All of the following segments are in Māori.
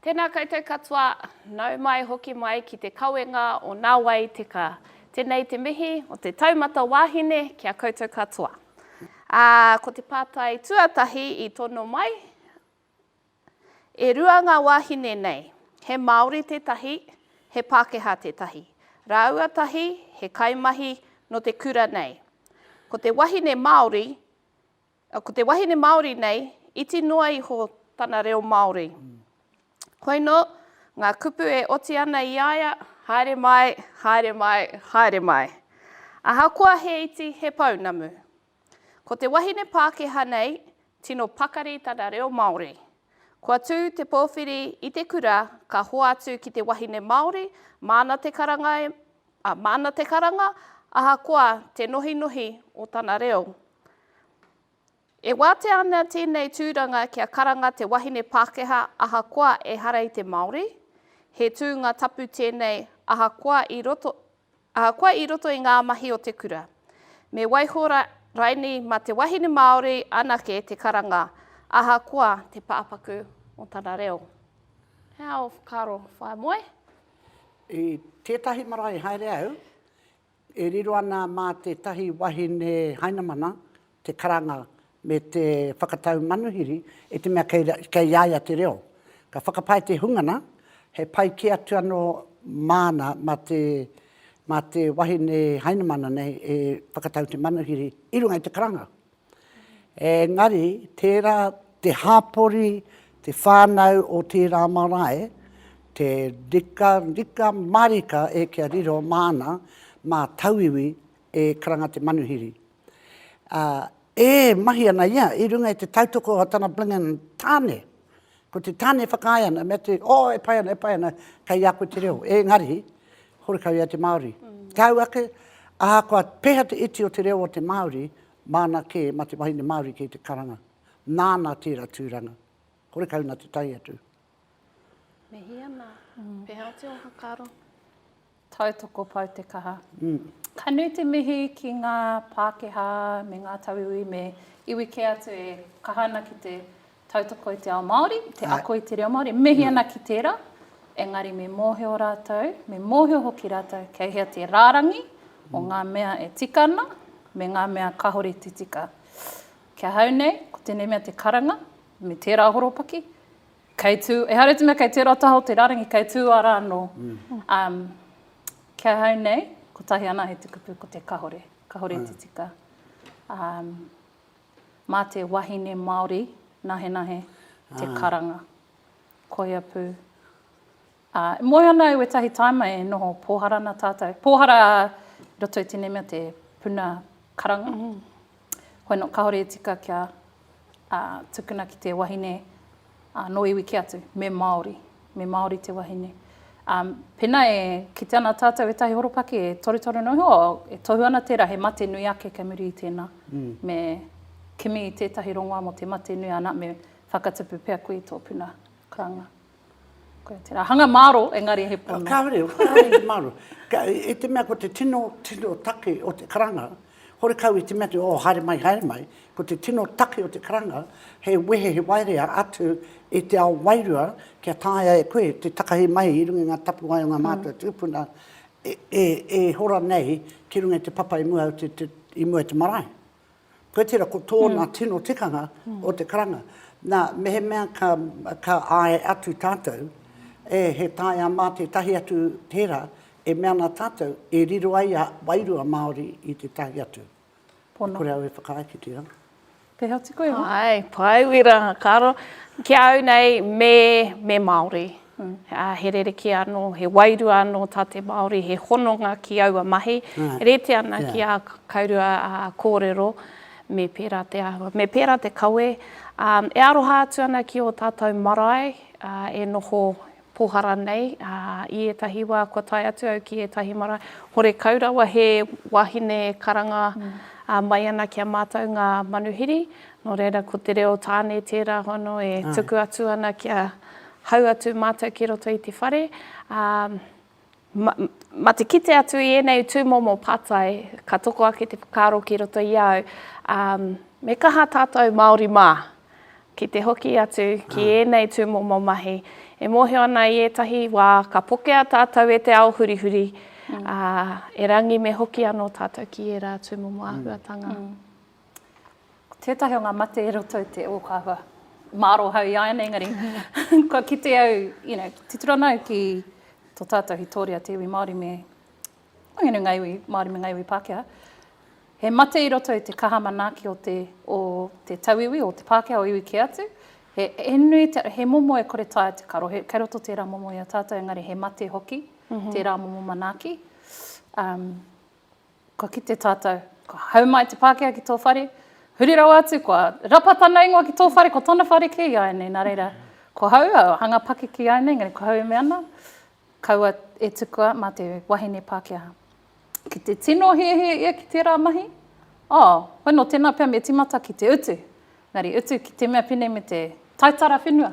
Tēnā koutou katoa, nau mai hoki mai ki te kawenga o Nā Wai Te Ka. Tēnei te mihi o te taumata wāhine ki a koutou katoa. Ā, ko te pātai tuatahi i tono mai, E rua ngā wāhine nei, he Māori tētahi, he Pākehā tētahi. Rāua tahi he kaimahi nō te kura nei. Ko te wahine Māori, ko te wahine Māori nei, iti noa iho tana reo Māori. Koinō ngā kupu e oti ana i a ia, haere mai, haere mai, haere mai. Ahakoa he iti, he pounamu. Ko te wahine Pākehā nei, tino pakari tana reo Māori. Kua tū te pōwhiri i te kura ka hoatu ki te wahine Māori, māna te karanga, e, a, māna te karanga, ahakoa te nohinohi o tana reo. E wātea ana tēnei tūranga kia karanga te wahine Pākehā ahakoa ehara i te Māori, he tūnga tapu tēnei ahakoa i roto, Ahakoa i roto i ngā mahi o te kura, me waiho rainei mā te wahine Māori anake te karanga, ahakoa te pāpaku o tana reo. He aha ō whakaaro, whaea moe? I tētahi marae haere au, e riro ana mā tētahi wahine Hainamana, te karanga me te whakatau manuhiri i te mea kei a ia te reo. Ka whakapae te hungana, he pai kē atu anō māna mā te, mā te wahine Hainamana nei e whakatau te manuhiri i runga i te karanga. Engari, tērā te hāpori, te whānau o tērā marae, te rika, rika mārika e kia riro māna, mā tauiwi e karanga te manuhiri. ā, e mahi ana ia i runga i te tautoko o tana Blingan tāne. Ko te tāne e whakaae ana, mea te, oh, e pai ana, e pai ana, kei a koe te reo. Engari, horekau ia te Māori. Tāu ake, ahakoa pēhea te iti o te reo o te Māori, māna kē mā te wahine Māori kei te karanga. Nāna tērā tūranga. Horekau nā te tae atu. Mihi ana. Pēhea atu ō whakaaro? Tautoko pau te kaha. Ka nui te mihi ki ngā Pākehā me ngā tauiwi me iwi kē atu e kaha ana ki te tautoko i te ao Māori, te ako i te reo Māori. Mihi ana ki tērā, engari me mōhio rātou, me mōhio hoki rātou kei hea te rārangi o ngā mea e tika ana me ngā mea kāore te tika. Ki ahau nei, ko tēnei mea te karanga, me tērā horopaki, kei tū, ehara i te mea kei tērā taha o te rārangi, kei tū ara anō. Um, ki ahau nei, kotahi ana he tukupu ko te kahore, kahore te tika. Um, mā te wahine Māori, nahenahe, te karanga. Koia pū. Ā, e moe ana au ētahi tāima e noho pōhara ana tātou. Pōhara i roto i tēnei mea te puna karanga. Koia nō, kāore e tika kia tukuna ki te wahine nō iwi kē atu, me Māori, me Māori te wahine. Ā, pēnā e kite ana tātou ētahi horopaki e torutoru ana iho, e tohu ana tērā he mate nui ake kei muri i tēnā. Me kimi i tētahi rongoā mō te mate nui, anā, me whakatupu pea koe i tō puna karanga. Koia tērā. Hanga māro, engari he pono. Kāore, kāore te māro. I te mea ko te tino, tino take o te karanga, horekau i te mea te, oh, haere mai, haere mai, ko te tino take o te karanga, he wehe, he waerea atu i te ao wairua kia taea e koe te takahi mai i runga i ngā tapuwae o ngā mātua tūpuna e, e, e hora nei ki runga i te papa i mua, i mua i te marae. Koe tera ko tōna mm. tino tikanga mm. o te karanga. Nā, mehemea ka, ka āe atu tātou, e he tae a mā tētahi atu tērā, e mea nā tātou, e riro ai a wairua Māori i te tahi atu. Pono. Kore au e whakaae ki te anga. Te hati koe, ha? Hai, pai wira, karo. Ki au nei, me, me Māori. Ā, he rerekē anō, he wairua anō tā te Māori, he hononga ki aua mahi, rite ana ki ā kaurua kōrero, me pērā te āhua, me pērā te kawe. Ā, e aroha atu ana ki ō tātou marae e noho pōhara nei, ā, i ētahi wā kua tae atu au ki ētahi marae, horekau rawa he wāhine karanga mai ana ki a mātou ngā manuhiri, Nō reira, ko te reo tāne tērā hono e tuku atu ana kia hau atu mātou ki roto i te whare. Ma te kite atu i ēnei tūmomo pātai, ka toko ake te whakaaro ki roto i a au, me kaha tātou Māori mā ki te hoki atu ki ēnei tūmomo mahi. E mōhio ana i ētahi wā ka pokea tātou e te ao hurihuri, erangi me hoki anō tātou ki ērā tūmomo āhuatanga. Ko tētahi o ngā mate e roto i te ōkawa, māro hau i a ēnei, engari, kua kite au, you know, titiro ana au ki tō tātou hitōria, te iwi Māori me, waenganui i ngā iwi Māori me ngā iwi Pākehā, he mate i roto i te kaha manaaki o te, o te tauiwi, o te Pākehā, o iwi kē atu, he, he nui, te, he momo e kore taea te karo, he, kei roto tērā momo i a tātou, engari he mate hoki tērā momo manaaki. Um, Kua kite tātou, kua hau mai te Pākehā ki tō whare, huri rawa atu, kua rapa tana ingoa ki tō whare, ko tana whare kē iāianei, nā reira, ko hau, au hanga pakeke iāianei, engari ko hau e mea ana, kaua e tukua mā te wahine Pākehā. Ki te tino hiahia ia ki tērā mahi, oh, hoi nō tēnā pea me tīmata ki te utu, engari utu ki te mea pēnei me te taitara whenua.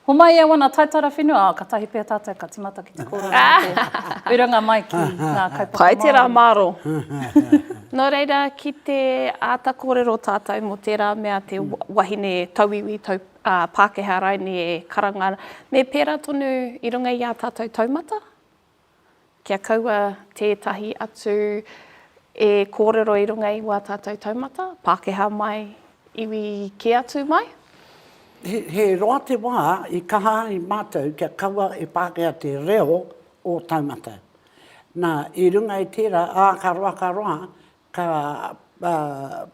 Homai e wana taitara whenua, ah, katahi pea tatou ka timata ki te korona me te urunga mai ki nga kaupapa Maori. Pai tera maro. No reira, ki te ata korero tatou mo tera mea te wahine tauiwi, tau, ah, Pakeha raine e karanga, me pera tonu i runga i a tatou taumata. Kia kaua tētahi atu e kōrero i runga i wā tātou taumata, Pākehā mai, iwi kē atu mai. He roa te wā i kaha ai mātou kia kaua e Pākehā te reo o taumata. Nā, i runga i tērā, ā, ka roa, ka roa, ka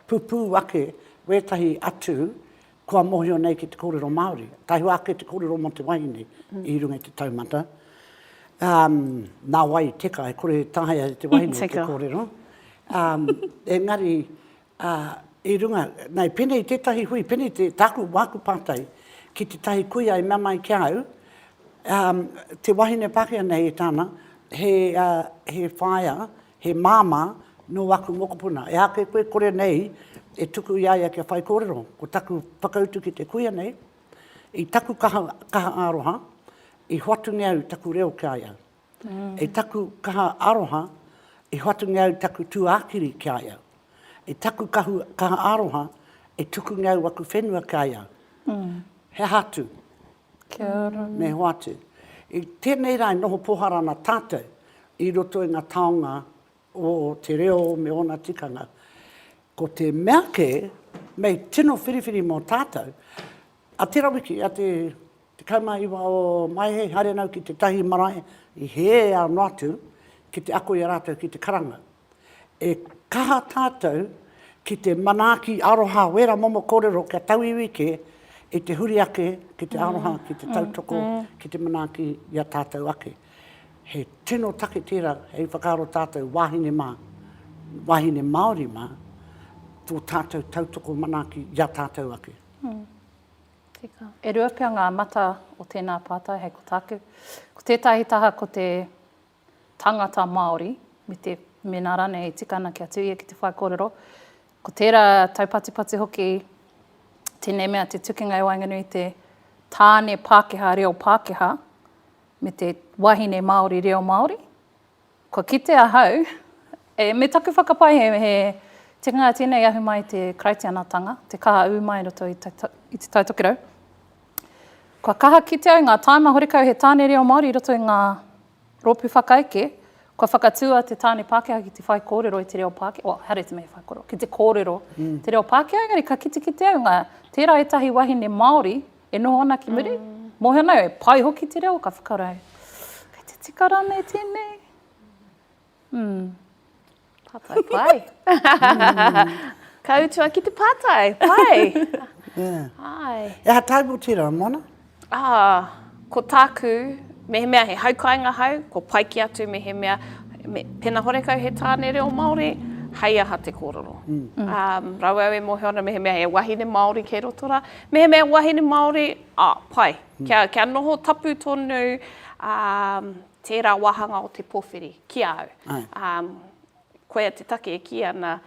pupū ake wētahi atu kua mōhio nei ki te kōrero Māori, tahua ake te kōrero mō te wahine i runga i te taumata, nā wai i teka, e kore e taea e te wahine te kōrero, engari i runga, nei pēnei tētahi hui, pēnei te, tāku, māku pātai, ki tētahi kuia i mea mai ki a au, te wahine Pākehā nei e tāna, he whaea, He māmā nō aku mokopuna. Ehake koe kore nei e tuku i a ia kia whaikōrero. Ko taku whakautu ki te kuia nei, i taku kaha, kaha aroha, i hoatungia au taku reo ki a ia. I taku kaha aroha, i hoatungia au taku tūākiri ki a ia. I taku kahu, kaha aroha, i tukungia au aku whenua ki a ia. He aha atu? Kia ora. Me hoatu. I tenei ra e noho pohara ana tatou i roto i nga taonga o te reo me ona tikanga. Ko te mea ke, mei tino whiriwhiri mo tatou, a tera wiki, a te 19 o Maehe, haere nau ki tetahi marae i he ano atu ki te ako i a ratou ki te karanga. E kaha tātou ki te manaaki aroha wera momo korero kia tauiwi ke i te huri ake ki te aroha, ki te tautoko, ki te manaaki i a tātou ake. He tino take tērā hei whakaaro tātou wāhine mā, wāhine Māori mā, tō tātou tautoko manaaki i a tātou ake. Tika. E rua pea ngā mata o tēnā pātai hei ko tāku. Ko tētahi taha ko te tangata Māori, me te, mēnā rānei e tika ana kia tū ia ki te whaikōrero, ko tērā taupatipati hoki tēnei mea te tukinga i waenganui i te tāne Pākehā reo Pākehā me te wahine Māori reo Māori. Kua kite ahau, e, me taku whakapae he, he tikanga tēnei ahu mai te Karaitianatanga, te kaha ū mai roto i te, i te Taitokerau, Kua kaha kite au ngā tāima horekau he tāne reo Māori i roto i ngā rōpū whakaeke, kua whakatū a te tāne Pākehā ki te whaikōrero i te reo Pākehā, well, haere te mea whaikōrero, ki te kōrero i te reo Pākehā, engari ka kitekite au ngā, tērā ētahi wahine Māori e noho ana ki muri, mōhio ana au e pai hoki te reo, ka whakaaro au, kei te tika rānei tēnei? Mm. Pātai pai. Ka utua ki te pātai, pai. yeah. Ai. E aha tāku tira, Mona? Ah, ko tāku, mehemea he haukainga hau, ko pai ki atu mehemea, me, pena horekau he tāne reo Māori, hei aha te kōrero. Mm. Um, rau au e mōhio ana mehemea he wahine Māori kei roto rā, mehemea wahine Māori, ah, pai. Mm. Kia, kia noho tapu tonu, um, Tērā wāhanga o te pōwhiri ki a au. Koia te take e kī ana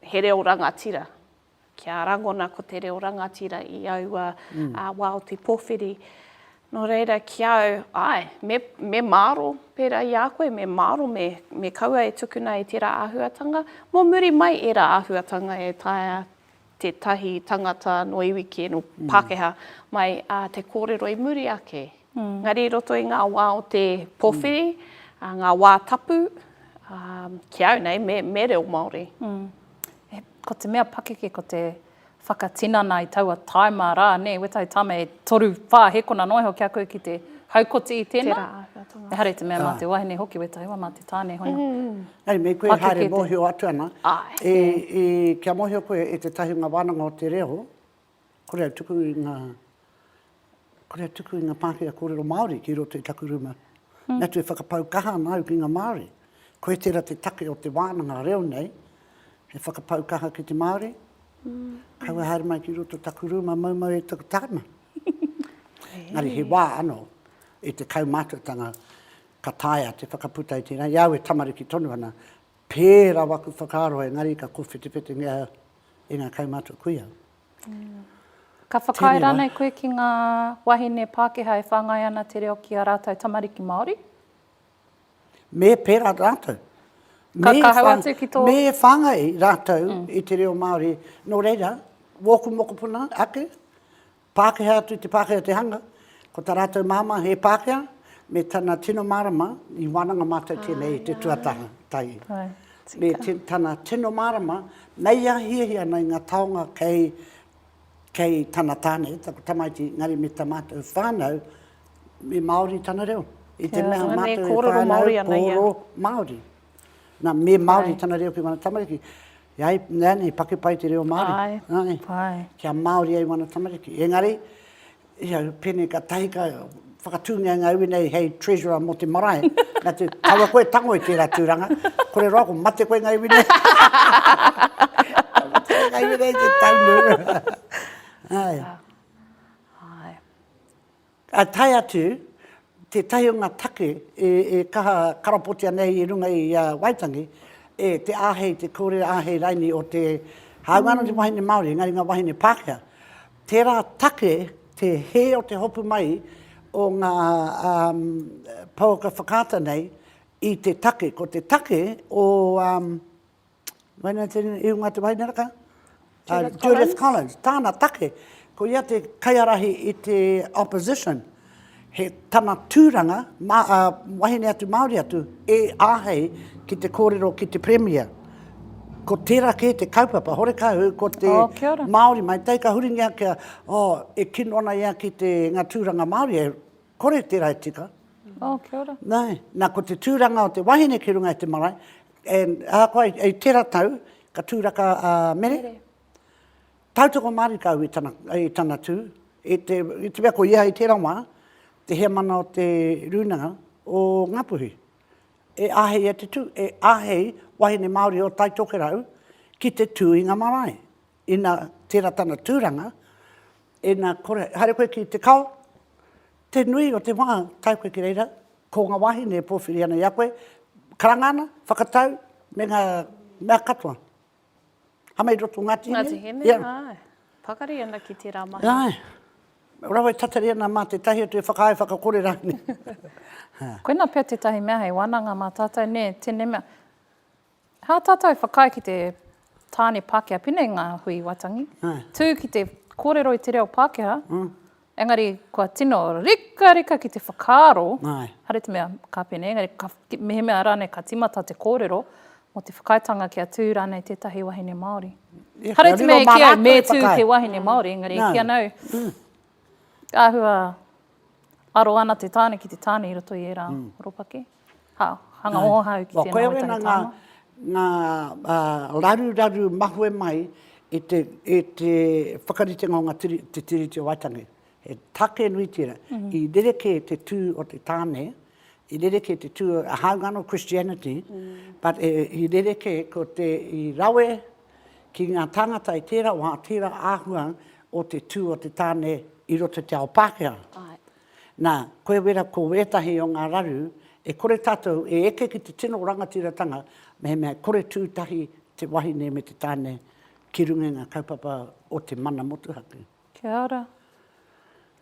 he reo rangatira. Kia rangona ko te reo rangatira i aua wā o te pōwhiri. Nō reira, ki a au, āe, me māro, pērā i a koe, me māro me kaua e tukuna e tērā āhuatanga. Mō muri mai ērā āhuatanga e taea tētahi tangata nō iwi kē, nō Pākehā, mai ā te kōrero i muri ake. Engari i roto i ngā wā o te pōwhiri, ngā wā tapu, ki au nei, me, me reo Māori. Ko te mea pakeke ko te whakatinana i taua taima rā, nē, wētahi taima e toru, whā hēkona noa iho ki a koe ki te haukoti i tēnā. Ehara i te mea mā te wahine hoki, wētahi wā mā te tāne hono. Hei, me koe haere mōhio atu ana, kia mōhio koe e te tahi o ngā wānanga o te reo, kore au tuku i ngā, kore au tuku i ngā pākehā kōrero Māori ki roto i taku rūma. Me atu e whakapau kaha ana au ki ngā Māori. Koe tērā te take o te wānanga reo nei, he whakapau kaha ki te Māori, kaua haere mai ki roto taku rūma maumau e taku tāima. Engari he wā anō, i te kaumātuatanga, Ka taea te whakaputa i tēnā, i a au e tamariki tonu ana, pērā waku whakaaro engari ka kōwhetewhetengea e ngā kaumātua kuia. Ka whakaae rānei koe ki ngā wahine Pākehā e whāngai ana te reo ki a rātou tamariki Māori? Me pērā rātou. Ka kahau atu ki tō... Me whāngai rātou i te reo Māori. Nō reira, wōku mokopuna ake, Pākehā atu te Pākehā o te hanga, ko tā rātou māmā he Pākehā, me tana tino mārama, i wānanga mātou tēnei i te tuataha, tahi. Me tana tino mārama, mei a hiahia ana i ngā taonga kei, kei tana tāne, taku tamaiti, engari me tā mātou whānau, me Māori tana reo. I te mea mātou e whānau, kōrero Māori. Nā, me Māori tana reo ki ngā tamariki. E ai, nēnei, paki pai te reo Māori. Āe, āe. Nāne, kia Māori ai wana tamariki. Engari, ia, pēnei ka tahi ka whakatūngia ngā iwi nei hei treasurer mō te marae. Nā te, kaua koe tango i tērā tūranga. Kore roa ko mate koe ngā iwi nei. Ngā iwi nei te taunu. Āe. Āe. Ka tae atu tētahi o ngā take e kaha karapotia nei i runga i a Waitangi, e te āhei, te kōrero āhei raini o te, hāunga anō te wahine Māori, engari ngā wāhine Pākehā. Tērā take te hē o te hopu mai o ngā pouaka whakaata nei i te take. Ko te take o. Waina tēnei, i runga te wainareka. Judith Collins. Judith Collins, tāna take, ko ia te kaiarahi i te opposition, he tana tūranga, ma, uh, wahine atu Māori atu, e āhei ki te kōrero ki te Premier. Ko tērā kē te kaupapa, horekā hu, ko te oh, Māori mai, tei ka huringia kia, oh, e kino ana ia ki te, ngā tūranga Māori, e kore te rae tika. Oh, kia ora. Nā, nā, ko te tūranga o te wahine ki runga i te marae, e, ahakoa i, i tera tau, ka tūraka a uh, mere. mere. Tautoko marika au i tana, i tana tū, i te, i te mea ko ia i tera wā, te heamana o te rūnanga o Ngapuhi. E ahei e te tū, e ahei wahine Māori o Taitokerau ki te tū i ngā marae. Ina tera tana turanga, ina kore, haere koe ki te kao, te nui o te wa tae koe ki reira, ko nga wahine e powhiri ana i a koe, karanga ana, whakatau, me nga mea katoa. Hama i roto o Ngati Hine. Ngati Hine, ae. Pakari ana ki tera mahi. Ae. Rawa e tatari ana ma tetahi atu e whakaae whakakore ranei. Koina pea tetahi mea hei wananga ma tatou, ne, tene mea. Hā tātou whakaae ki te tāne Pākehā pina i ngā hui Waitangi, tū ki te kōrero i te reo Pākehā, engari kua tino rikarika ki te whakaaro, haere te mea ka pēnei, engari ka, mehemea rānei ka tīmata te kōrero, mō te whakaaetanga kia tū rānei tētahi wahine Māori. Haere te mea e kī au, me tū te wahine Māori, engari e kī ana au, āhua, Aro ana te tāne ki te tāne i roto i ērā horopaki. Ha, hanga ōhāu ki tēnā waitangi tāma. Wā, koia wena ngā, ngā raruraru mahue mai i te, i te whakaritenga o ngā tiri, te Tiriti o Waitangi. He tāke nui tērā. I rerekē te tū o te tāne, i rerekē te tū, hāunga anō Christianity, but i rerekē ko te, i rawe, ki ngā tāngata i tērā wā, tērā āhua o te tū o te tāne i roto i te ao Pākehā. Nā, koe wera ko ētahi o ngā raru, e kore tātou e eke ki te tino rangatiratanga mehemea e kore tū tahi te wahine me te tāne ki runga i ngā kaupapa o te mana motuhake. Kia ora.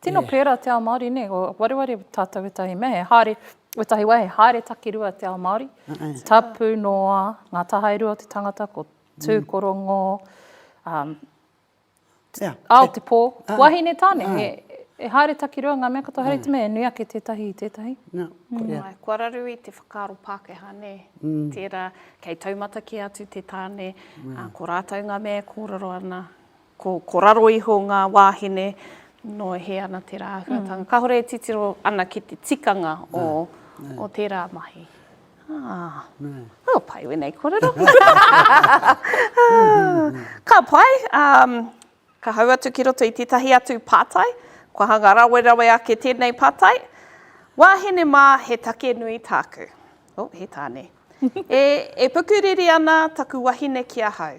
Tino pērā te ao Māori, nē, ko wareware tātou wētahi mea, he haere, wētahi wā, he haere takirua te ao Māori. Tapu noa, ngā tahairua o te tangata, ko tūkorongo, um, yeah. ao te pō, uh, wahine tāne, uh. he, e haere takirua ngā mea katoa, haere te mea, e nui ake tētahi i tētahi. No, mm. yeah. Ai, kua raru i te whakaaro Pākehā, nē, mm. tērā, kei taumata ki atu te tāne, mm. uh, ko rātou ngā mea e kōrero ana, Ko, ko raro iho ngā wāhine, nō hē ana tērā āhuatanga. Mm. Kāore e titiro ana ki te tikanga o, Nā. o tērā mahi. Ah. Nā. Oh, pai wēnei kōrero. ka pai, um, ka hau atu ki roto i tētahi atu pātai, kua hanga rawerawe ake tēnei pātai. Wāhine mā, he take nui tāku. Oh, he tāne. e, e pukuriri ana taku wahine ki ahau.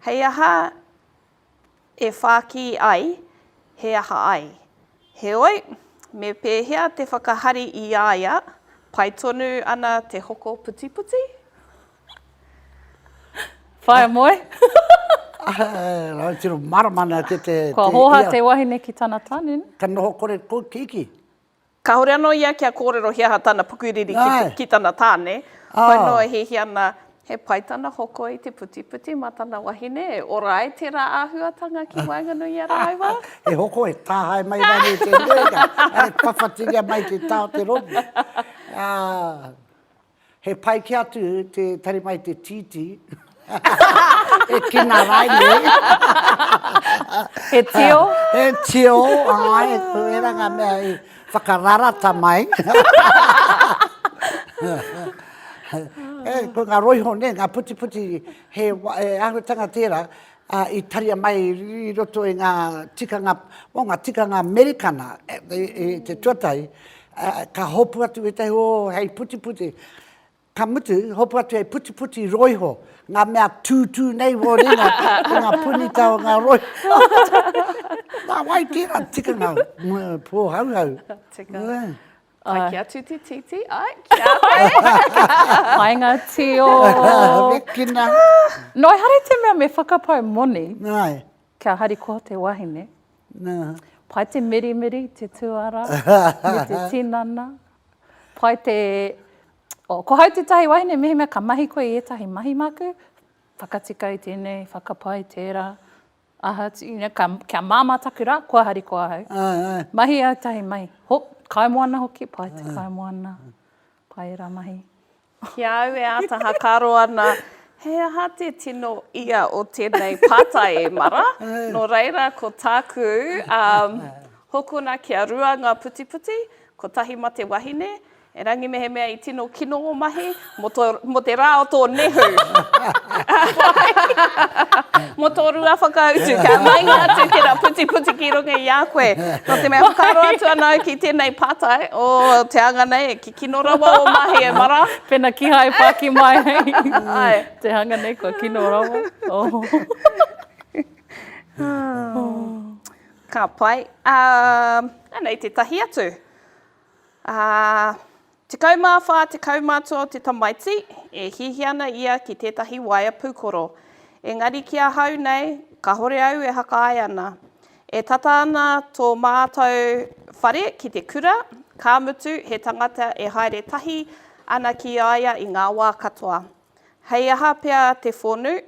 Hei aha e whāki ai, he aha ai. Heoi, me pēhea te whakahari i a ia, pai tonu ana te hoko putiputi? Whaea moe? Āe, tino mārama nā te te te ia. Kua hōhā te wahine ki tana tanun. Ka noho kore kua kiki. Kāore anō ia kia kōrero he aha tana pukuriri ki tana tāne, whai noa hihi ana he pai tana hoko i te putiputi mā tana wahine, e ora ai tērā āhuatanga ki waenganui i a rāua. He hoko e tāhae mai rānei i te nuinga, ā, e pawhatiria mai te tao te rongo. He pai ki atu te tari mai te titi. e kina rai nei. he tio. he tio. Ai, e kuera nga mea i whakararata mai. e, ko nga roiho ne, nga puti puti, he e ahutanga tera, ā, i taria mai i roto i ngā tikanga, o ngā tikanga Amerikana i te tuatahi, ā, ka hopu atu ētahi o hei putiputi, ka mutu, hopu atu hei putiputi roi ho, ngā mea tūtū nei wō ringa i ngā punita o ngā roi. Nā wai tērā tikanga pōhauhau. Tika. Ai ki a Tutititi, ai ki a koe. Hai ngā tio. Rekina. Noi hari te mea me whakapau moni. Nāi. Kia hari ko te wahine. Nā. Pai te mirimiri, te tuara, me te tinana. Pai te... Oh, ko hau tētahi wahine, mehemea ka mahi koe i ētahi mahi māku, whakatika i tēnei, whakapai tērā. Aha, tīna, ka, kia māmā taku rā, kua harikoa ahau. Ai, ai. Mahi au tahi mahi. Ho, kaimoana hoki, pai te kaimoana. Pai ērā mahi. Ki a au e āta hakaro ana, he aha te tino ia o tēnei pātai e Mara? Nō reira, ko tāku, um, hokona kia rua ngā putiputi, kotahi ma te wahine, Erangi mehemea i tino kino ngō mahi, mō tō, mō te rā o tō nehu. mō tō rua whakautu, kia maenga atu tērā putiputi ki runga i a koe. Nō te mea whakaaro atu ana au ki tēnei pātai, o te anga nei, e kikino rawa ō mahi e mara. Pēnā kīhai e pāki mai hei te hanga nei, kua kino rawa. Ka pai. Ā, anei tētahi atu. Ā, tekau mā whā tekau matua o te tamaiti, e hiahia ana ia ki tētahi waea pūkoro. Engari ki ahau nei, kāhore au e hakahae ana. E tata ana tō mātou whare ki te kura, ka mutu he tangata e haere tahi ana ki a ia i ngā wā katoa. Hei aha pea te whonu,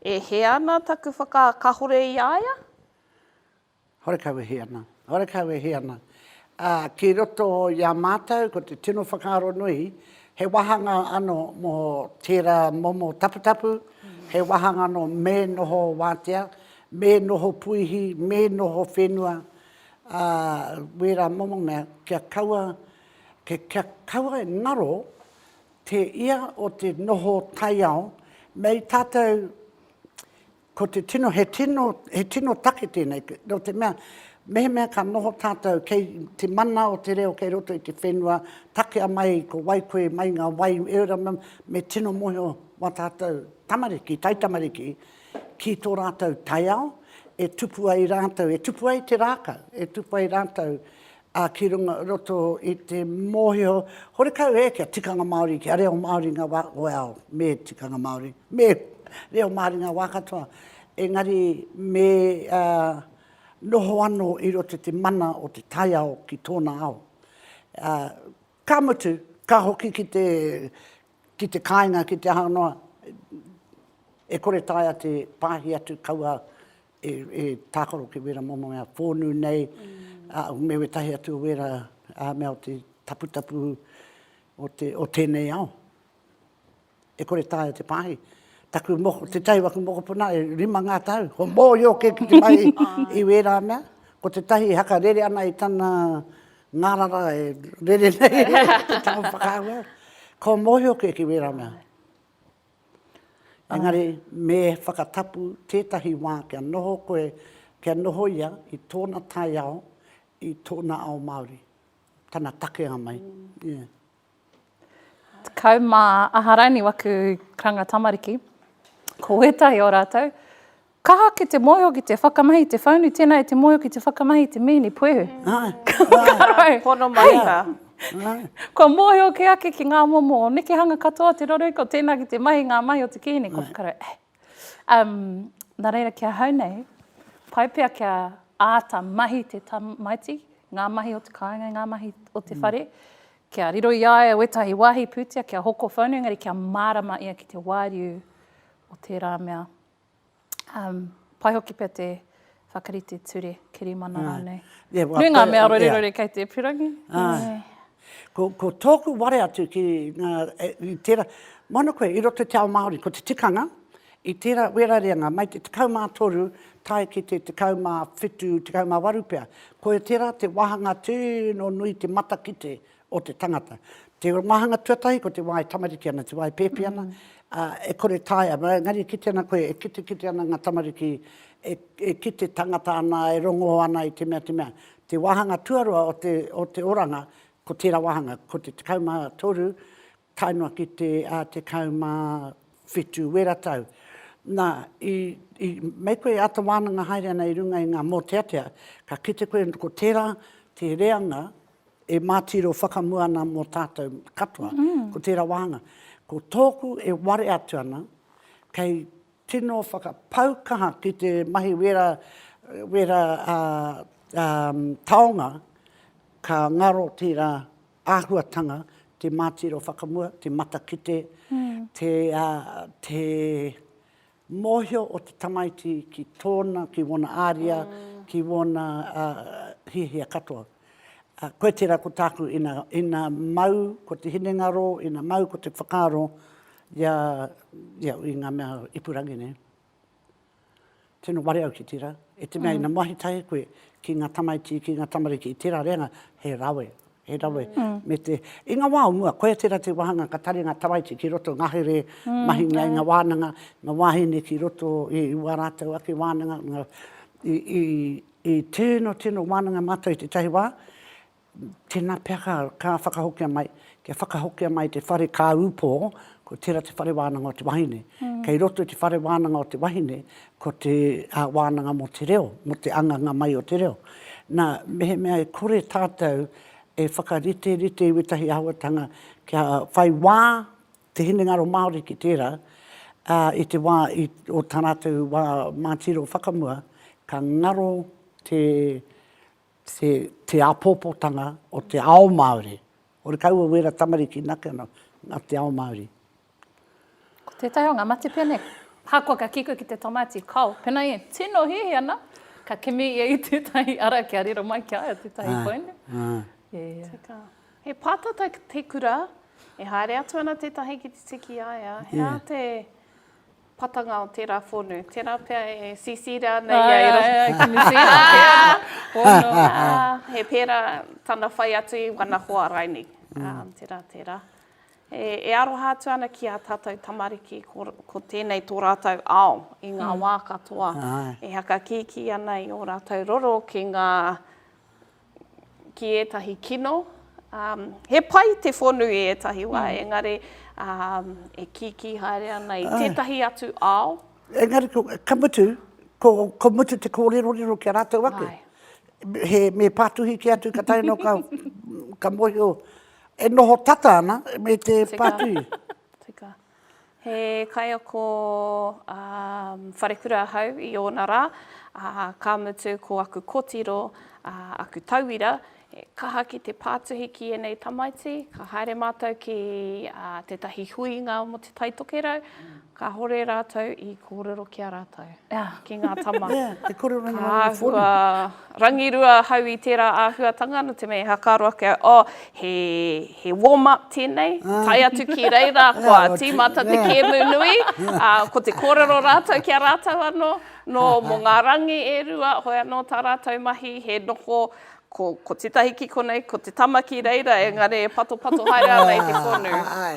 e hē ana taku whakakahore i a ia? Horekau e hē ana, horekau e hē ana. Ā, ki roto i a mātou, ko te tino whakaaro nui, he wāhanga anō mō tērā momo taputapu, he wāhanga anō me noho wātea, me noho puihi, me noho whenua, ā, wērā momo mea, kia kaua, kia kaua e ngaro te ia o te noho taiao, mei tātou Ko te tino, he tino, he tino take tēnei, nō te mea, mehemea ka noho tātou kei te mana o te reo kei roto i te whenua, takea mai ko wai koe, mai ngā wai, e ora, me tino mōhio wā tātou tamariki, taitamariki, ki tō rātou taiao, e tupu ai rātou, e tupu ai te rākau, e tupu ai rātou ā, ki runga, roto i te mōhio, horekau ē, kia tikanga Māori, kia reo Māori ngā wā, well, me tikanga Māori, me reo Māori ngā wā katoa, engari me noho anō i roto i te mana o te taiao ki tōna ao. Ka mutu, ka hoki ki te, ki te kāinga, ki te aha noa, e kore taea te pāhi atu kaua e tākaro ki wera momo mea whōnū nei, me wētahi atu wera mea o te taputapu o tēnei ao. E kore taea te pāhi. Taku moko, tētahi o aku mokopuna e rima ngā tau, ko mōhio kē ki te whai i wērā mea, ko tētahi e hakarere ana i tana ngārara e rere nei te tango whakaahua, kua mōhio kē ki wērā mea. Engari, me whakatapu tētahi wā kia noho koe, kia noho ia i tōna taiao, i tōna ao Māori, tana takea mai. Yeah. Tekau mā aha rānei waku karanga tamariki, ko wētahi o rātou, Kaha ki te moeho ki te whakamahi te whaunu tena e te moeho ki te whakamahi te mihini puehu. Kakarau. Pono mai ka. Kua moeho ke ake ki nga momo o nekehanga katoa o te rarui ko tena ki te mahi nga mahi o te kihini kua whakarau e. Um na reira ki ahau nei pai pea kia aata mahi te tamaiti nga mahi o te kainga nga mahi o te whare kia riro i a ia wetahi wahi putea kia hoko whaunu engari kia marama ia ki te wariu o tera mea Pai hoki pea te whakarite ture, kirimana rānei. Nui ngā mea rorirori kei te pirangi. Ko tōku ware atu ki tērā, moana koe i roto te ao Māori, ko te tikanga, i tērā wēra reanga, mai te tekau mā toru tae ki te tekau mā whitu, tekau mā waru pea. Koe tērā te wāhanga tino nui te matakite o te tangata. Te wāhanga tuatahi ko te wā e tamariki ana, te wā e pēpi ana, ā, e kore taea, engari e kite ana koe, e kitekite ana ngā tamariki, e, e kite tangata ana, e rongō ana i te mea, te mea. Te wāhanga tuarua o te, o te oranga, ko tērā wāhanga, ko te 13, tae noa ki te 17 wera tau, nā, i, i, me koe e āta wānanga haere ana i runga i ngā mōteatea, ka kite koe ko tērā te reanga e mātiro whakamua ana mō tātou katoa, ko tērā wāhanga. Ko tōku e ware atu ana, kei tino whakapau kaha ki te mahi wera, wera taonga, ka ngaro tērā āhuatanga, te mātiro whakamua, te matakite, te mōhio o te tamaiti ki tōna, ki wōna āria, ki wōna hiahia katoa. Koe tērā ko tāku, ina mau ko te hinengaro, ina mau ko te whakaaro i ngā mea ipurangi nei. Tino ware au ki tera, e te mea ina mahi tahi koe ki nga tamaiti, ki nga tamariki i tera reanga, he rawe, he rawe, me te, i nga wa o mua, koia tera te wahanga ka tare nga tamaiti ki roto, ngahere, mahinga i nga wananga, nga wahine ki roto i wa ratou ake wananga, nga, i, i, i tino, tino wananga matou i tetahi wa, Tēnā pea ka whakahokia mai, kia whakahokia mai te whare kāupo, ko tērā te whare wānanga o te wahine. Kei roto i te whare wānanga o te wahine, ko te wānanga mō te reo, mō te anganga mai o te reo. Nā, mehemea e kore tātou e whakariterite i wētahi āhuatanga kia whai wā te hinengaro Māori ki tērā, ā, i te wā i, o tā rātou wā mātiro whakamua, ka ngaro te, te te apopotanga o te ao Maori. Ore ka ua wera tamariki nake ano nga te ao Maori. Ko tetahi o nga mate pene. Ahakoa ka kiko ki te tamati, kao, pena i tino hihi ana, ka kimi ia i tetahi ara kia riro mai ki a ia tetahi poene. Tika. He patata te kura, e haere atu ana tetahi ki te tiki i a ia, he aha te. Patanga o tērā whonu. Tērā pea e sisira ana ia e roto. Ai, ai, ai, ki te whonu. He pērā tana whai atu i wana hoa raini. Tērā, tērā. E aroha atu ana ki ā tātou tamariki ko tēnei tō rātou ao i ngā wā katoa. E hakakīkī ana i ō rātou roro ki ngā ki ētahi kino. He pai te whonu i ētahi wā, engari e kīkī haere ana i tētahi atu ao. Engari, ka mutu, ko mutu te kōrerorero ki a rātou ake. Me pātuhi kē atu ka tae noa ka mōhio e noho tata ana me te pātuhi. Tika. He kaiako wharekura ahau i ōna rā, ā, ka mutu ko aku kotiro, ā, aku tauira, he kaha ki te pātuhi ki ēnei tamaiti, ka haere mātou ki tētahi huinga mō Te Taitokerau, kāore rātou i kōrero ki a rātou. ki ngā tama. Te kore rangi rangi whori. Ka āhua rangirua ahau i tērā āhuatanga, nō te mea he whakaaro ake au, oh, he, he warm up tēnei, tae atu ki reira, kua tīmata te kēmu nui, ā, ko te kōrero rātou ki a rātou anō, nō mō ngā rangi e rua, hoi anō tā rātou mahi, he noho Ko, ko tetahi ki konei, ko te tama ki reira, engari e patopato haere ana i te konu.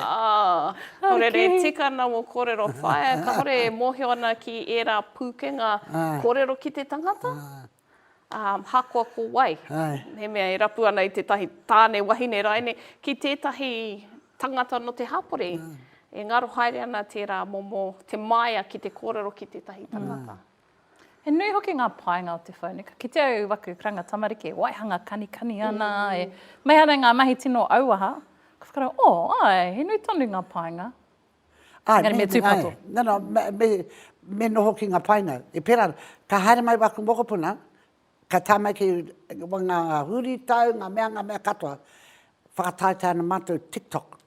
Ah, ko rere tika na mo korero whaea, kahore e mohio ana ki era pukenga korero ki te tangata, um, hakoa ko wai, he mea e rapu ana i tetahi tane, wahine, raine, ki tetahi tangata no te hapori, e ngaro haere ana tera momo te maia ki te korero ki tetahi tangata. He nui hoki ngā painga o te whānui. Ka kite au i waku karanga tamariki e waihanga kanikani ana, mm. e mei ana ngā mahi tino auaha. Ka whakarau, o, oh, ai, he nui tonu ngā painga. Ai, Ngari, me, me tūpato. No, no, me, me, me noho ki ngā painga. E pera, ka haere mai waku mokopuna, ka tā mai ki ngā, ngā huri tau, ngā mea, ngā mea katoa. Whakataetae ana mātou TikTok.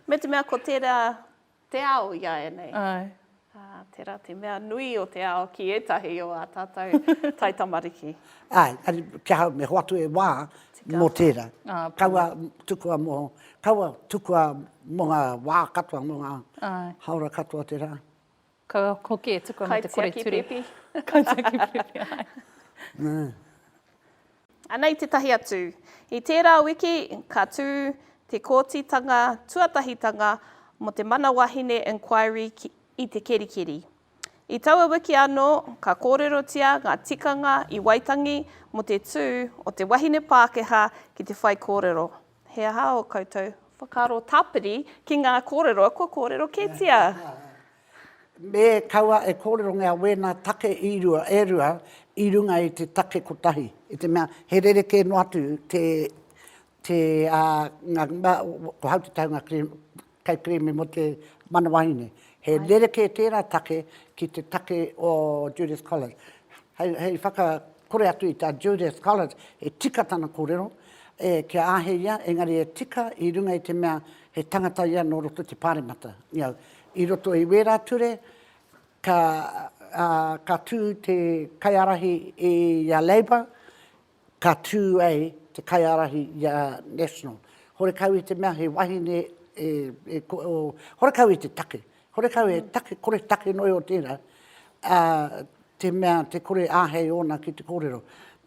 me te mea ko tērā Te ao i a ēnei. Āe. Ā, tērā te mea nui o te ao ki ētahi o ā tātou taitamariki. Āe, āe, ki ahau me hoatu e wā mō tērā. Kaua tukua mō, kaua tukua mō ngā wā katoa, mō ngā hāora katoa tērā. Kaua hoki e tukua mō te kore ture. Kaitiaki pēpi. Kaitiaki pēpi, āe. Anei tētahi atu. I tērā wiki ka tū te Kōtitanga Tuatahitanga mō te Mana Wahine Inquiry i Te Kerikeri. I taua wiki anō ka kōrerotia ngā tikanga i Waitangi mō te tū o te wahine Pākehā ki te whaikōrero. He aha ō koutou. Whakaaro tāpiri ki ngā kōrero kua kōrero kētia? Me kaua e kōrerongia wēnā take i rua, e rua, i runga i te take kotahi. I te mea, he rerekē noa atu te, te, ā, ngā, ko Hautetaunga Kri, Kei kerēme mō te mana wahine. He rerekē tērā take ki te take o Judith Collins. Hei, hei whakakore atu i tā Judith Collins, he tika tana kōrero, e, kia āhei ia, engari e tika i runga i te mea he tangata ia nō roto i te Pāremata. I au, i roto i wērā ture, ka, ā, ka tū te kaiārahi i a Labour, ka tū ai te kaiārahi i a National. Horekau i te mea he wahine e, e ko, o, horekau i te take. Horekau he take, kore take noi o tērā, a, te mea te kore āhei ōna ki te kōrero.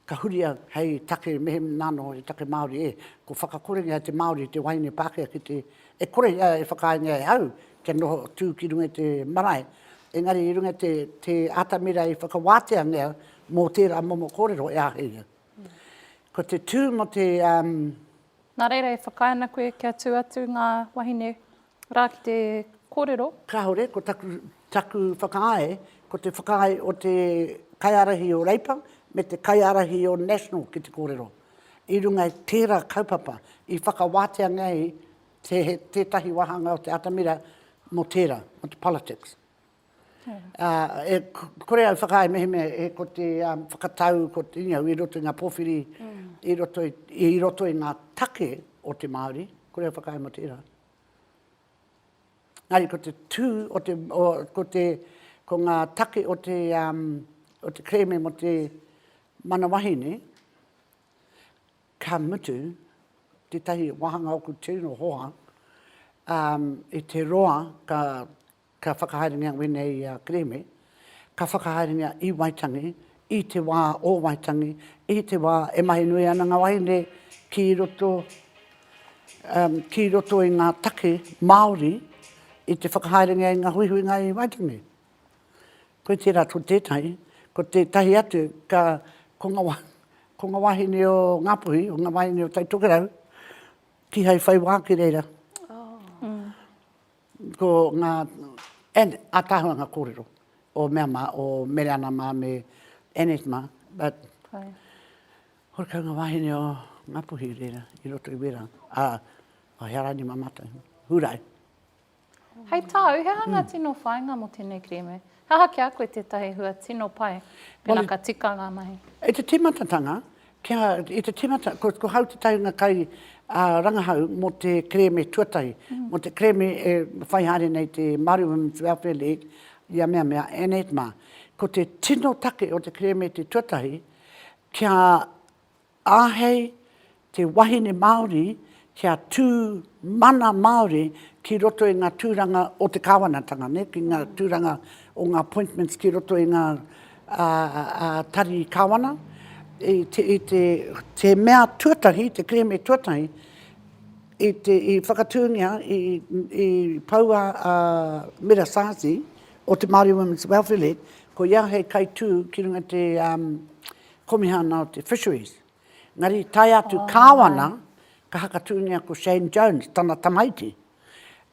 Ka huria hei take mehem nāno he take Māori e. Ko whakakorenga te Māori te wahine Pākehā ki te, e kore ia e whakaaengia e au, kia noho tū ki runga i te marae, engari i runga i te, te atamira i whakawātea nei au mō tērā momo kōrero e āhei au. Ko te tū mō te, um. Nā reira e whakaae ana koe kia tū atu ngā wahine rā ki te kōrero? Kāore, ko taku, taku whakaae, ko te whakaae o te kaiārahi o Reipa me te kaiārahi o National ki te kōrero, i runga i tērā kaupapa i whakawātea nei Te he tētahi wāhanga o te atamira mō tērā, mō te politics. E, kore au whakaae mehemea e ko te um, whakatau, ko te inga i roto i ngā pōwhiri, mm. i, roto i, i roto i ngā take o te Māori, kore au whakaae mō tērā. Ngāri, ko te tū, o te, o, ko, te, ko ngā take o te, um, o te kreme mō te manawahine, Ka mutu, tētahi wāhanga o ku tino hoa, ā, i te roa ka, ka whakahaerengia wēnei i a Kereme, ka whakahaerengia i Waitangi, i te wā o Waitangi, i te wā e mahi nui ana ngā wāhine ki roto, ā, ki roto i ngā take Māori i te whakahaerengia i ngā huihuinga i Waitangi. Koe tērā ko tētahi, ko tētahi atu ka, ko nga wa, ko nga wahine o Ngapuhi, o nga wahine o Taitokerau, kihai whai wā ki reira. Ko nga, and ataahua nga kōrero o mea ma, o Mereana ma me Annette ma, but horekau nga wahine o Ngapuhi reira i roto i wērā, a, a Hearaini ma matou, Hurae. Hei tā au, he aha ngā tino whāinga mō tēnei kerēme? He aha ki a koe tētahi hua tino pai pēnā ka tika ngā mahi? I te tīmatatanga, kia, i te tīmata, ko, ko hau tētahi o ngā kai ā, rangahau mō te kerēme tuatahi, mō te kerēme e whai haere nei te Māori Women's Welfare League i a mea mea, Annette Mā. Ko te tino take o te kerēme te tuatahi, kia Āhei te wahine Māori kia tū mana Māori ki roto i ngā tūranga o te kāwanatanga, nē, ki ngā tūranga o ngā appointments ki roto i ngā tari kāwana, i te mea tuatahi, te kerēme tuatahi, i whakatūngia, i pau a Mira Sarzi o te Māori Women's Welfare League, ko ia hei kaitū ki runga i te Komihana o te Fisheries, engari i tae atu Kāwana, ka hakatūngia ko Shane Jones, tana tamaiti.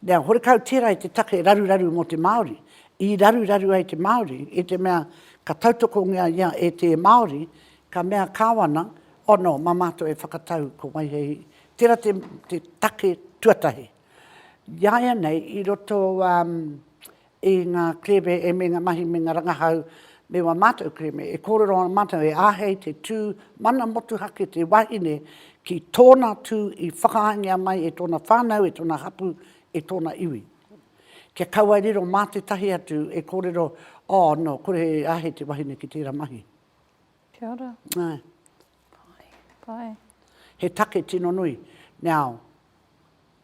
Nā, horekau tērā i te take raruraru mō te Māori, i raruraru ai te Māori, i te mea ka tautokongia ia e te Māori, ka mea Kāwana, oh no, mā mātou e whakatau ko Waihehi, tērā te, te take tuatahi. Iāianei, i roto, um, i ngā kerēme e me ngā mahi me ngā rangahau me wā mātou kerēme, e kōrero ana mātou e āhei te tū mana motuhake te wahine ki tōna tū i whakahaengia mai e tōna whānau, e tōna hapū, e tōna iwi. Kia kaua e riro mā tētahi atu e kōrero, oh, nō, kore he āhei te wahine ki tērā mahi. Kia ora. Āe. He take tino nui. Now,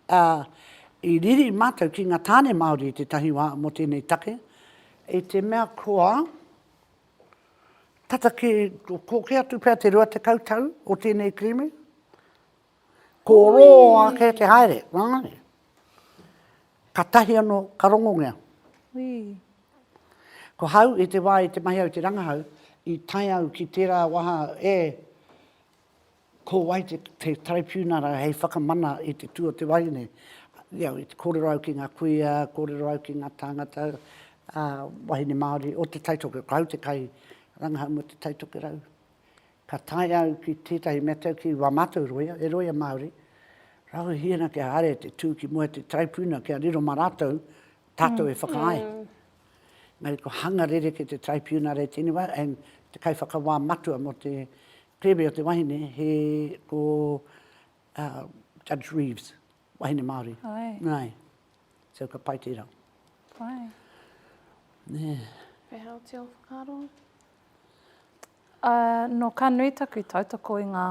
i riri mātou ki ngā tāne Māori i tētahi wā mō tēnei take, i te mea kua tata ki, kōkē atu pea te rua tekau tau o tēnei kerēme, Ko rō ake te haere, wāngare. Ka tahi anō, ka rongongea. Ko hau i te wā i te mahi au te rangahau, i tae au ki tērā waha e, ko wai te, te taraipiunara hei whakamana i te tū o te wahine. You know, i te kōrero au ki ngā kuia, kōrero au ki ngā tāngata, ā, wahine Māori o Te Taitokerau, ko hau te kai rangahau mō Te Taitokerau. Ka tae au ki tētahi mea tau ki wā mātou roia, he roia Māori, rāua hiana kia haere te tū ki mua te taraipuna kia riro mā rātou, tātou e whakaae. Engari ko hanga rereke te taraipiuna rei tēnei wā, and te kaiwhakawā matua mō te kereme o te wahine he ko Judge Reeves, wahine Māori. Aye. So ka pai tērā. Pai. Nē. Pēhea oti ō whakaaro? Ā, nō ka nui taku tautoko i ngā,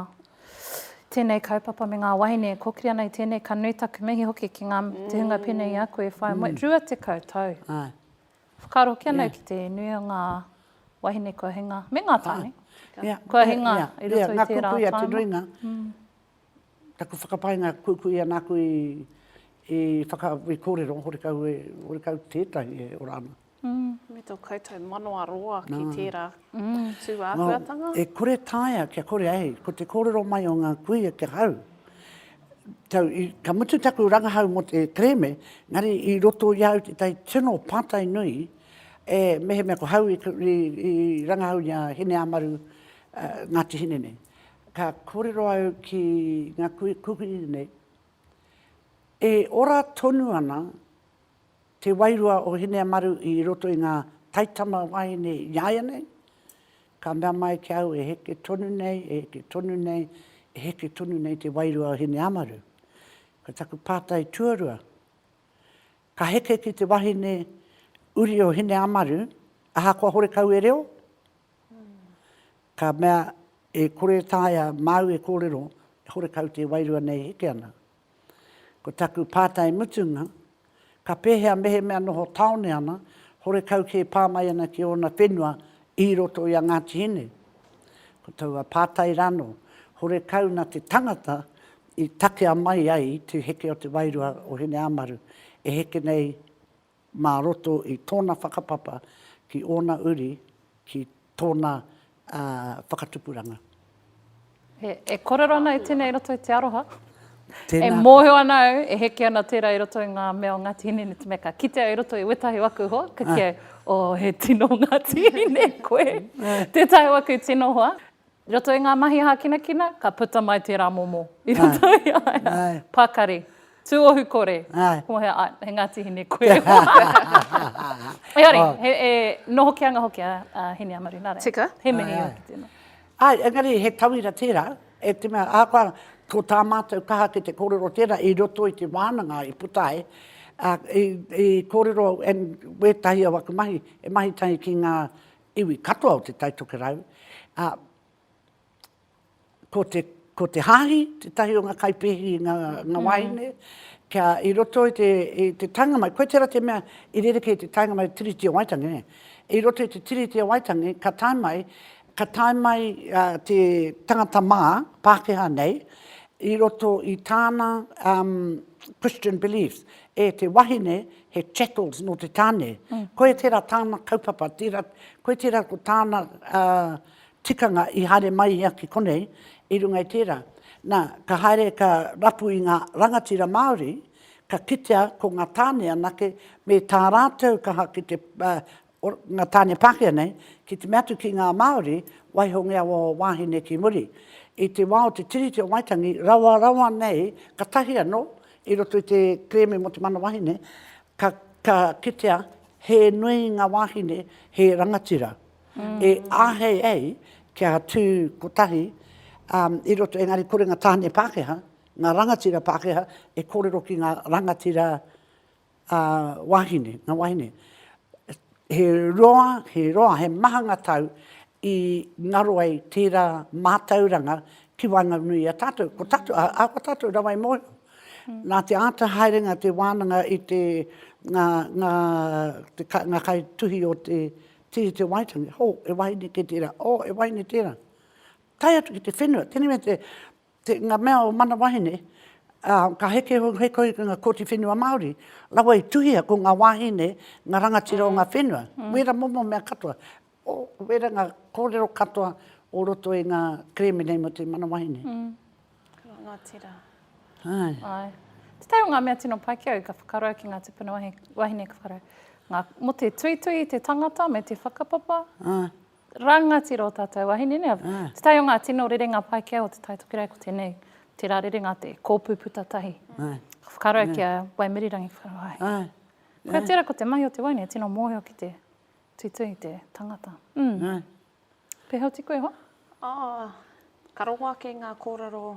tēnei kaupapa me ngā wahine e kōkiri ana i tēnei, ka nui taku mihi hoki ki ngā, te hunga pēnei i a koe e whai moe, 20 tau. Āe. Whakaaro hoki ana au ki te nui o ngā wahine kua hinga, me ngā tāne, kua hinga i roto i tērā whāinga. Āe, āe, ngā kukuia te nuinga. Taku whakapainga kuikui ana aku i i whaka i korero horekau e horekau tetahi e ora ana. Me to koutou manawa roa ki tera tu ahuatanga. E kore taea kia kore ai ko te korero mai o nga kuia kia hau tau i ka mutu taku rangahau mo te kereme engari i roto i au tetahi tino patai nui e mehemea ko hau i rangahau i a Hineamaru Ngati Hinene Ka kōrero au ki ngā kuhikuhi nei, e ora tonu ana te wairua o Hineamaru i roto i ngā taitama wāhine iāianei, ka mea mai ki a au e heke tonu nei, e heke tonu nei, e heke tonu nei te wairua o Hineamaru. Ko taku pātai tuarua, ka heke ki te wahine uri o Hineamaru ahakoa horekau e reo? Ka mea, E kore e taea māu e kōrero, e horekau te wairua nei e heke ana. Ko taku pātai mutunga, ka pēhea mehemea noho tāone ana, horekau kē pā mai ana ki ōna whenua i roto i a Ngāti Hine? Ko taua pātai rānō, horekau nā te tangata i takea mai ai te heke o te wairua o Hineāmaru e heke nei mā roto i tōna whakapapa ki ōna uri, ki tōna whakatupuranga. E kōrero ana au tēnei i roto i te aroha. E mōhio ana au, e heke ana tērā i roto i ngā mea o Ngāti Hine, ineti mea ka kite au i roto i wētahi waka hua, ka kī au, oh, he tino Ngāti Hine koe. Tētahi waka i tino hoa. I roto i ngā mahi hākinakina, ka puta mai tērā momo i roto i a ia. Pakari. Tūohu kore. Kua hea, āe, he Ngāti Hine koe. Engari, e noho kē anga hoki a Hineamaru, nā reira. Tika. He mihi ō ki tēnā. Āe, engari he tauira tērā, e te mea, ahakoa ko tā mātou kaha ki te kōrero tērā i roto i te wānanga i puta ai, i kōrero, and wētahi o aku mahi, he mahi tahi ki ngā iwi katoa o Te Tai Tokerau, ā, ko te, ko te hāhi tētahi o ngā kaipēhi i ngā, ngā wāhine, kia i roto i te, i te taenga mai, koe tērā te mea i rerekē i te taenga mai o Tiriti o Waitangi, nē. I roto i te Tiriti o Waitangi, ka tae mai, ka tae mai te tangata mā, Pākehā nei, i roto i tāna Christian beliefs, e te wahine he chattels nō te tāne, koia tērā tāna kaupapa, tērā, koia tērā ko tāna tikanga i haere mai ia ki konei, i runga i tērā. Nā, ka haere ka rapu i ngā rangatira Māori, ka kitea ko ngā tāne anake me tā rātou kaha ki te o nga tane Pakea nei, ki te mea atu ki nga Maori, waihongia ua wahine ki muri. I te wa o te Tiriti o Waitangi, rawa rawa nei, katahi ano, i roto i te kereme mo te mana wahine, ka ka kitea he nui nga wahine, he rangatira, e ahei ei kia tu kotahi, um, i roto, engari kore nga tane Pakeha, nga rangatira Pakeha e korero ki nga rangatira ā, wāhine, ngā wāhine, he roa, he roa, he maha ngā tau i ngaro ai tērā mātauranga ki waenganui i a tātou. Ko tātou, ā, ko tātou rawa i mōhio. Nā te āta haerenga te wānanga i te, ngā, ngā, te, ngā kai tuhi o te Tīri Te Waitangi, hō, he wāhine kē tērā, ō, he wāhine tērā. Tae atu ki te whenua, tēnei mea te, Te, nga mea o mana wahine, a, ka heke hou hei kohi ki nga Koti Whenua Maori, rawa i tuhia ko nga wahine nga rangatira o nga whenua. Wera momo mea katoa, o, wera nga korero katoa o roto i nga kereme nei mo te mana wahine. Rangatira. Aye. Aye. Tetai o nga mea tino pai ki au ka whakarau ki nga tupuna wahine ka whakarau, nga, mo te tuitui i te tangata me te whakapapa, Rangatira o tatou wahine nei. Te tai o nga tino rerenga Paikea o Te Tai Tokerau ko tenei, tera rerenga te Kopu Puta Tahi. Ka whakarau ki a Waimirirangi Whakarawahe. Koia tera ko te mahi o te wahine e tino mohio ki te tuitui i te tangata. Peha oti koe hoa? Ka rongo ake ngā kōrero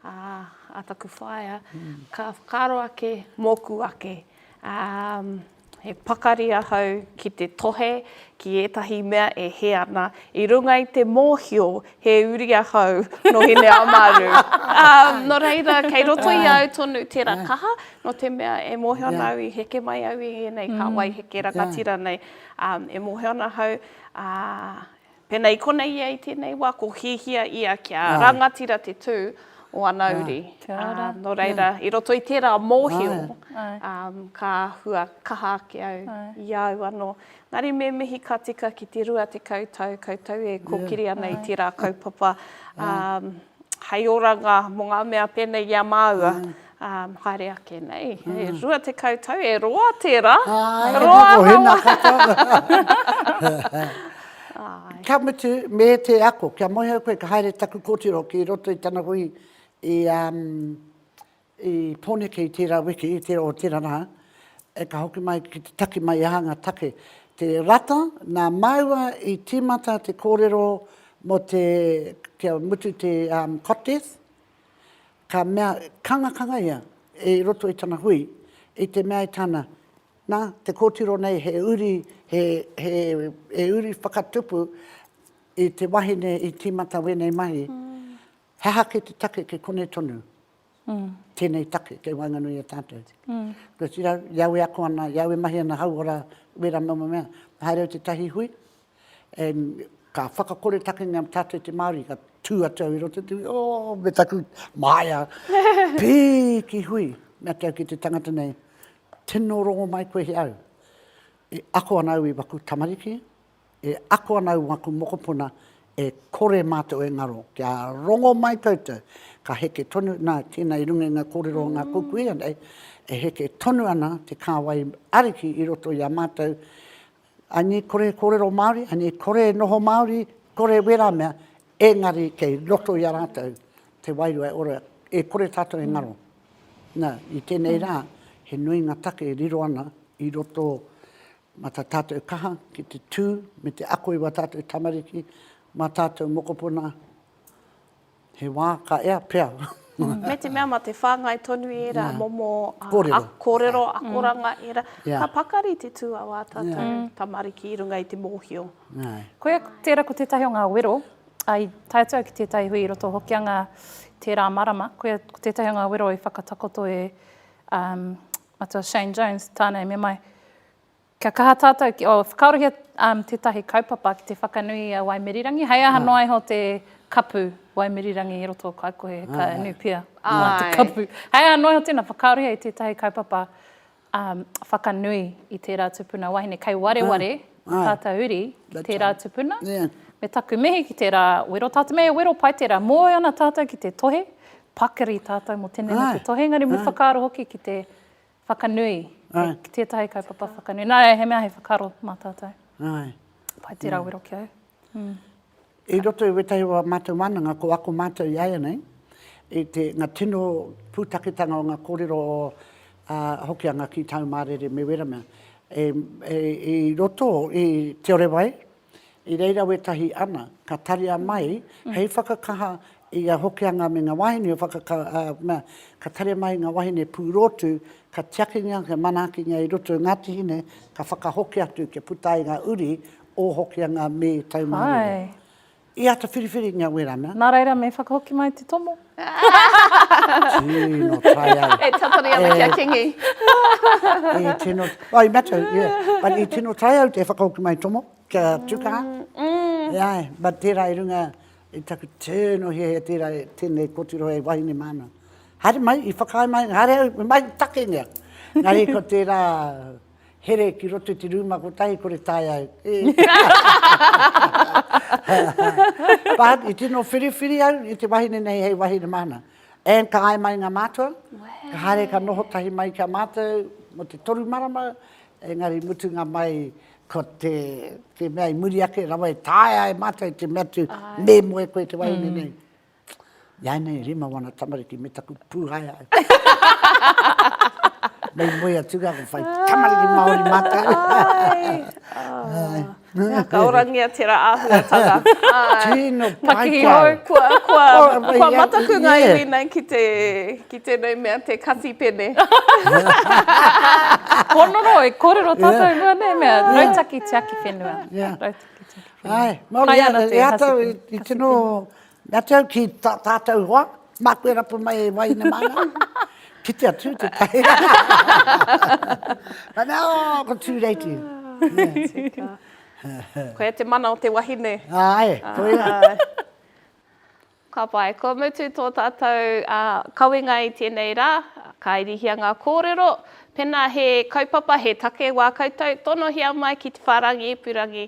a, a taku whaea, mm. ka whakaaro ake mōku ake. Um, he pakari ahau ki te tohe ki ētahi mea e he ana, i runga i te mōhio he uri ahau no hine amaru. um, no reira, kei roto i au tonu tērā kaha, no te mea e mōhio ana au i heke mai au i ēnei mm. ka wai heke rangatira nei. Um, e mōhio ana ahau, uh, Pēnā i konei ia i tēnei wā, ko Hiahia ia kia rangatira te tū o ana uri. Nō reira, i roto i tērā mōhio, ka hua kaha ake au i a au anō. Engari me mihi ka tika ki te rua tekau tau koutou e kōkiri ana i tērā kaupapa. hei oranga mō ngā mea pēnei i a māua, ā, haere ake nei, e rua tekau tau, e roa tērā, roa rawa. Ka mutu, me te ako, kia moe au koe ka haere taku kōtiro ki roto i tana hui i I Poneke i tērā wiki, i tērā o tērā rā, e ka hoki mai ki te taki mai aha ngā take. Te rata, nā māua i tīmata te kōrero mō te, kia mutu te contest, ka mea, kangakanga ia i roto i tana hui, i te mea e tāna, nā, te kōtiro nei he uri, he, he, he uri whakatupu i te wahine i tīmata wēnei mahi, he aha ki te take ki konei tonu. tēnei take kei waenganui i a tātou. Kua tira, i au e ako ana, i au e mahi ana hauora, wera noa moa mea, haere au te tahi hui, e, ka whakakore takenga mō tātou te Māori, ka tū atu au i roto i te hui, oh, me taku māia, pīki hui, me atu au ki te tangata nei, tino rongo mai koe he au, e ako ana au i waku tamariki, e ako ana au aku mokopuna e kore matou e ngaro kia rongo mai koutou ka heke tonu na tena i runga i nga korero o nga kuku ia nei e heke tonu ana te kawai ariki i roto i a matou I need kore e korero maori I need kore e noho maori kore wera mea engari kei roto i a ratou te wairua e ora e kore tatou e ngaro na i tenei ra he nui nga take e riro ana i roto Mā tā tātou kaha ki te tū me te ako i wā tātou tamariki, mā tātou mokopona, he wā ka ea pea. Me te mea mā te whāngai tonu i ērā momo kōrero, akoranga, ērā. Ka pakari te tū a wā tātou tamariki i runga i te mōhio. Koia tērā ko tētahi o ngā wero, i tae atu au ki tētahi hui i roto o Hokianga tērā marama, koia ko tētahi o ngā wero i whakatakoto e Matua Shane Jones, Tāne, me mai. Kia kaha tātou ki, oh, whakaorohia um, tētahi kaupapa ki te whakanui i a Waimirirangi, hei aha ah. noa iho te kapu Waimirirangi i roto o Kaikohe, ka ah. nupia mā te kapu. Hei aha noa iho tēnā, whakaorohia i tētahi kaupapa um, whakanui i tērā tupuna wahine, kei wareware, ah. Tātou uri ki tērā tupuna, me taku mihi ki tērā wero, tātou me wero pai tērā, moe ana tātou ki te tohe, pakari tātou mō tēnei me te tohe, engari me whakaaro hoki ki te whakanui, ki tētahi kaupapa whakanui, nā reira he mea he whakaaro mā tātou. Pai tērā wero ki au. I roto i wētahi o ā mātou wānanga, ko ako mātou i āianei, i te, ngā tino pūtaketanga o ngā kōrero o ā Hokianga ki tāu mārere me wēra mea. E, e, i roto i Te Ore Wai, i reira wētahi ana, ka taria mai hei whakakaha i a Hokianga me ngā wāhine o whakaka, ā, mea, ka taria mai ngā wāhine pūrōtu, ka tiakingia, ka manaakingia i roto i Ngāti Hine, ka whakahoki atu kia puta ai ngā uri O Hokia ngā me tau mā rere. I ata whiriwhiringia werana. Nā reira me whakahoki mai te tomo. Tino tae ai. E tatari ana ki a Kingi. I tino, wai matou, yeah. But i tino tae au te whakahoki mai tomo, kia tukaha. Yeah, but tērā i runga i taku tino hiahia tērā, tēnei kōtiro e wahine māna. Haere mai, i whakaae mai, haere au, me mai takengia. Engari ko tērā Here ki roto i te rūma kotahi kore tae au. But i tino whiriwhiri au i te wahine nei hei wahine mahana. And ka ai mai ngā mātua, ka haere ka noho tahi mai ki a mātou mo te toru marama, engari mutunga mai ko te, te mea i muri ake rawa e taea e mātou te mea atu me moe koe te wahine nei. Ianei rima wana tamariki me taku puhaea. Nei moe atu ga whai tamariki Maori matou. Mea ka orangia tera ahuatanga. Tino pai kau. Kua mataku nga iwi nei ki tenei mea te kati pene. Honoro e korero tatou mua nei mea rautaki tiaki whenua. Rautaki tiaki whenua. Ai, Maori ana te. Ea tau i tino Ratou ki ta, tatou hoa, maku e rapu mai e waina mana. Kite atu te tahi. Mana o, oh, ko tū reiti. Koia te mana o te wahine. Ai, koia. Ka pai, kua mutu tō tātou uh, kawenga i tēnei rā, ka irihia ngā kōrero, pena he kaupapa, he take wā koutou, tonohia mai ki te whārangi ipurangi